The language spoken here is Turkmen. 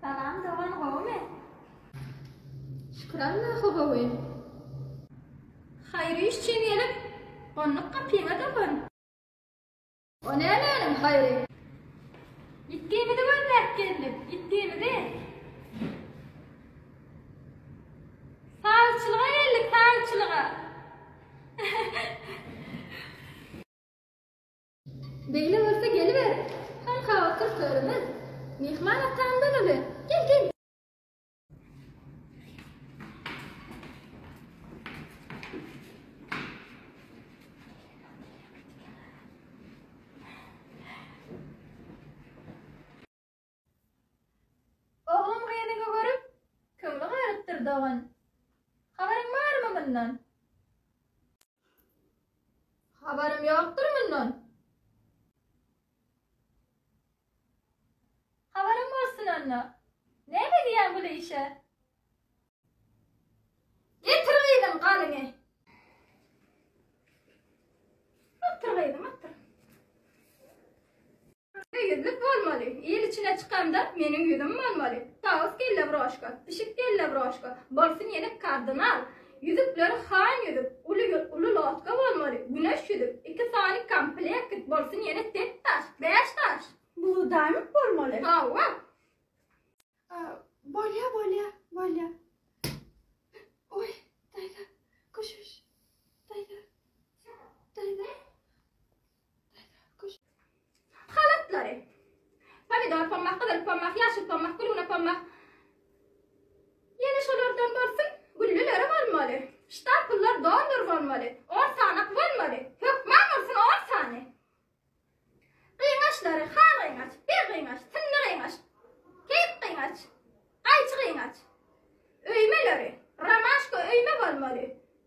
Salam dogan gowumy? Şükür Allaha gowy. Haýyr iş üçin gelip, gonduk gapyňa dogan. O nämäniň haýry? Ýitgimizi gözläp geldik, ýitgimizi. Sagçylyga geldik, sagçylyga. Beýle bolsa geliber, hanka otur törümiz. Myhman atamdan uly, gel, gel. Oglum gyzyňy görüp, köňli galypdyr, dogan. Habaryň barmy mundan? Habarym ýokdur mundan. Habaryň bolsun onda. Näme edýäň bu işe? Getir gyzyň galyňy. Otur gyzym, otur. Köne ýüzlük bolmaly. Il içine çykanda meniň ýüzüm bolmaly. Tawus kelle broşka, pişik kelle broşka, bolsun ýene kardynal. Ýüzükleri han ýüzük, uly uly lotka bolmaly, güneş ýüzük, iki sany komplekt, bolsun ýene set daş, bäş daş. Blue diamond bolmaly. Hawa. Bolýa, bolýa, bolýa. Oý, daýza, köşeş. Daýza. Daýza. halatlary, pomidor pommak, gyzyl pommak, ýaşyl pommak, gülgüne pommak, ýene şolardan bolsun, gülleleri bolmaly, ştapyllar doldur bolmaly, on sanak bolmaly, hökman bolsun on sany. Gyňaçlary, han gyňaç, bir gyňaç, synly gyňaç, keýik gyňaç, gaýçy gyňaç, öýmeleri, romaşka öýme bolmaly,